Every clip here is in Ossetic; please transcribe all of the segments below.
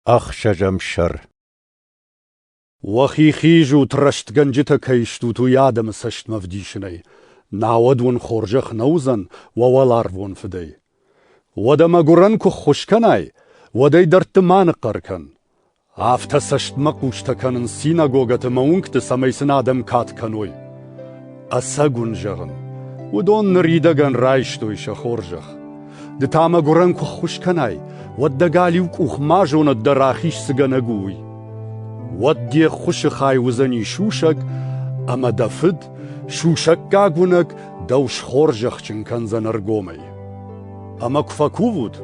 Ӕхсӕзӕм сӕр Уӕхи хизут, рӕстгӕнджытӕ кӕй стут, уый адӕмы цӕстмӕ вдисынӕй, науӕд уын хорзӕх нӕ уыдзӕн уӕ уӕларвон Фыдӕй. Уӕдӕ мӕгуырӕн куы ххуыс кӕнай, уӕд ӕй дӕрдты ма ныхъхъӕр кӕн. Афтӕ цӕстмӕ хъустӕ кӕнын синагогӕты мӕ уынгты, цӕмӕй сын адӕм кад кӕной. Ӕцӕг уын зӕгъын, уыдон ныридӕгӕн райстой сӕ хорзӕх. Ды та мӕ гуырӕн куы ххуыс кӕнай, уӕд дӕ галиу къух ма зонӕд дӕ рахиз цыгӕнӕг у, уый. Уӕд де ххуысы хай уыдзӕни сусӕг, ӕмӕ дӕ фыд, сусӕггаг уынӕг, дӕу схорзӕхджын кӕндзӕн ӕргомӕй. Ӕмӕ куы фӕкувут,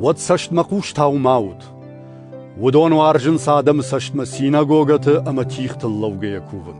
уӕд цӕстмӕ хъустау ма ут. Уыдон уарзынц адӕмы цӕстмӕ синагогӕты ӕмӕ тихтыл лӕугӕйӕ кувын.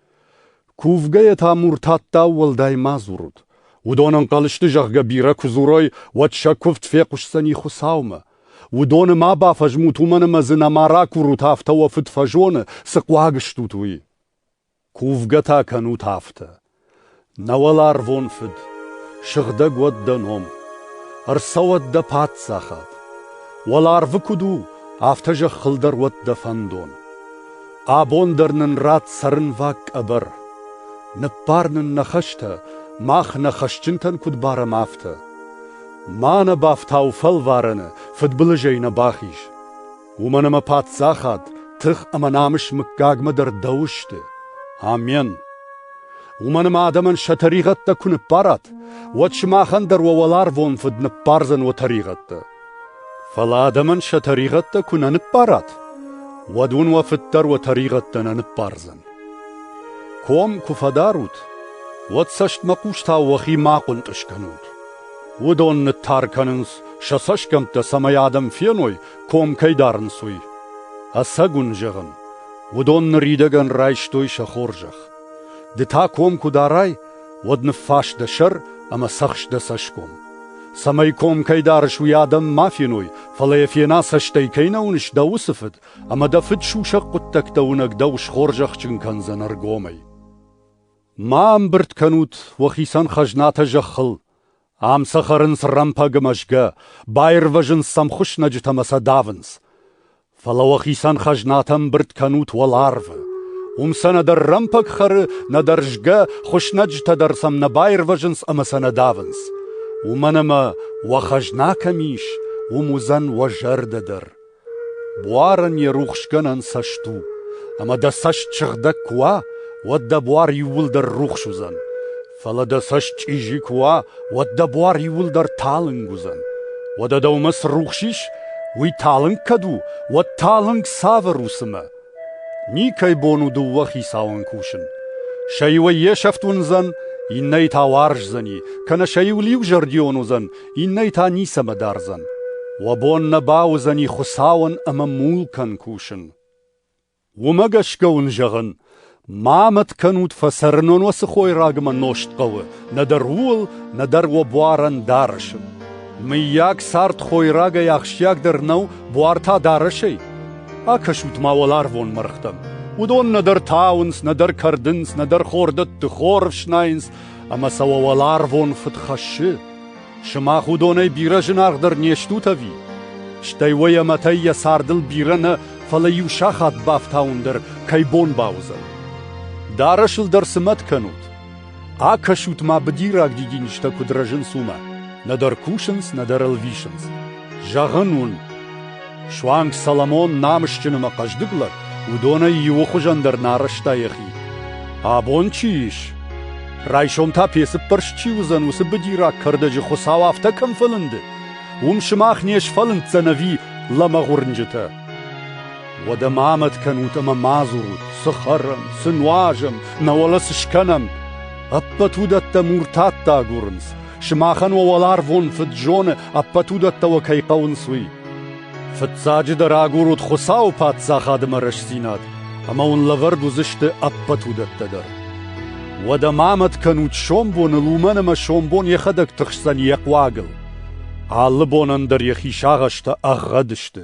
Кувгӕйӕ та муртаттау уӕлдай ма дзурут. Уыдон ӕнхъӕл сты, зӕгъгӕ, бирӕ куы дзурой, уӕд сӕ куывд фехъуысдзӕни Хуыцаумӕ. Уыдоны ма бафӕзмут, уымӕн ӕмӕ дзы нӕма ракурут, афтӕ уӕ фыд фӕзоны, цы хъуаг стут, уый. Кувгӕ та кӕнут афтӕ. Нӕ уӕларвон Фыд, сыгъдӕг уӕд дӕ ном, ӕрцӕуӕд дӕ паддзахад. Уӕларвы куыд у, афтӕ зӕххыл дӕр уӕд дӕ фӕндон. Абон дӕр нын ратт цӕрынваг къӕбӕр. Ныббар нын нӕ хӕстӕ, мах нӕ хӕсджынтӕн куыд барӕм, афтӕ. Ма нӕ бафтау фӕлварӕны, фыдбылызӕй нӕ бахиз. Уымӕн ӕмӕ паддзахад, тых ӕмӕ намыс мыггагмӕ дӕр дӕу сты. Амен! Уымӕн ӕмӕ адӕмӕн сӕ тӕригъӕдтӕ куы ныббарат, уӕд сымахӕн дӕр уӕ уӕларвон Фыд ныббардзӕн уӕ тӕригъӕдтӕ. Фӕлӕ адӕмӕн сӕ тӕригъӕдтӕ куы нӕ ныббарат, уӕд уын уӕ Фыд дӕр уӕ тӕригъӕдтӕ нӕ ныббардзӕн. Ком куы фӕдарут, уӕд цӕстмӕхъустау уӕхи ма хъуынтъыз кӕнут. Уыдон ныттар кӕнынц сӕ цӕсгӕмттӕ, цӕмӕй адӕм феной, ком кӕй дарынц, уый. Ӕцӕг уын зӕгъын, уыдон ныридӕгӕн райстой сӕ хорзӕх. Ды та ком куы дарай, уӕд ныффас дӕ сӕр ӕмӕ цӕхс дӕ цӕсгом. Цӕмӕй ком кӕй дарыс, уый адӕм ма феной, фӕлӕ йӕ фена цӕстӕй кӕй нӕ уыныс дӕ уыцы фыд, ӕмӕ дӕ фыд сусӕг хъуыддӕгтӕ уынӕг дӕу схорзӕхджын кӕндзӕн ӕргомӕй. Ма ӕмбырд кӕнут уӕ хицӕн хӕзнатӕ зӕххыл, Ам сӕ хӕрынц рӕмпӕгы мӕзгӕ, баирвӕзынц сӕм хуыснӕджытӕ ӕмӕ сӕ давынц. Фӕлӕ уӕхицӕн хӕзнатӕ ӕмбырд кӕнут уӕларвы. Уым сӕ нӕдӕр рӕмпӕг хӕры, нӕдӕр згӕ, хуыснӕджытӕ дӕр сӕм нӕ баирвӕзынц ӕмӕ сӕ нӕ давынц. Уымӕн ӕмӕ, уӕ хӕзна кӕм ис, уым уыдзӕн уӕ зӕрдӕ дӕр. Буарӕн йӕ рухсгӕнӕн цӕст у, ӕмӕ дӕ цӕст сыгъдӕг куы уа, уӕд дӕ буар иууылдӕр рухс уыдзӕн, фӕлӕ дӕ цӕст чъизи куы уа, уӕд дӕ буар иууылдӕр талынг уыдзӕн. Уӕдӕ дӕумӕ цы рухс ис, уый талынг кӕд у, уӕд талынг цавӕр у цымӕ? Никӕй бон у дыууӕ хицауӕн кусын. Сӕ иуӕй йе сӕфт уындзӕн, иннӕйы та уарздзӕни, кӕнӕ сӕ иу лиузӕрдион уыдзӕн, иннӕйы та ницӕмӕ дардзӕн. Уӕ бон нӕ бауыдзӕни Хуыцауӕн ӕмӕ мулкӕн кусын. Уымӕ гӕсгӕ уын зӕгъын, ма мӕт кӕнут фӕцӕрынон уӕ цы хойраг ӕмӕ нозт хъӕуы, нӕдӕр ууыл, нӕдӕр уӕ буарӕн дарӕсы. Мыййаг цард хойрагӕй ахсджиагдӕр нӕу буар та дарӕсӕй? Акӕсут-ма уӕларвон мӕргътӕм. Уыдон нӕдӕр тауынц, нӕдӕр кӕрдынц, нӕдӕр хордӕтты хор ӕфснайынц, ӕмӕ сӕ уӕ уӕларвон фыд хӕссы. Сымах уыдонӕй бирӕ зынаргъдӕр не стут ӕви? Стӕй уӕ йӕ мӕтӕй йӕ цардыл бирӕ нӕ, фӕлӕ иу сахат бафтауын дӕр кӕй бон бауыдзӕн. Дарӕсыл дӕр цы мӕт кӕнут? Акӕсут ма быдираг дидинджытӕ куыд рӕзынц уымӕ. Нӕдӕр кусынц, нӕдӕр ӕлвисынц. Зӕгъын уын, Суанг Соломон намысджын ӕмӕ хъӕздыг лӕг, уыдонӕй иуы хуызӕн дӕр нӕ арӕзта йӕхи. Абон чи ис? Райсом та пецыппӕрст чи уыдзӕн уыцы быдираг кӕрдӕджы Хуыцау афтӕ кӕм фӕлынды, уым сымах не сфӕлынддзӕн ӕви лӕмӕгъ уырнджытӕ. Уӕдӕ ма амӕт кӕнут ӕмӕ ма дзурут, цы хӕрӕм, цы нуазӕм, науӕд цы скӕнӕм. Ӕппӕт уыдӕттӕ муртӕ агурынц, Сымахӕн уӕ уӕларвон Фыд зоны, ӕппӕт уыдӕттӕ уӕ кӕй хъӕуынц, уый. Фыццаджыдӕр агурут Хуыцауы Паддзахадмӕ рӕстдзинад, ӕмӕ уын лӕвӕрд уыдзысты ӕппӕт уыдӕттӕ дӕр. Уӕдӕ ма амӕт кӕнут сомбоныл, уымӕн ӕмӕ сомбон йӕхӕдӕг тыхсдзӕн йӕ хъуагыл. Алы бонӕн дӕр йӕхи сагъӕстӕ ӕгъгъӕд сты.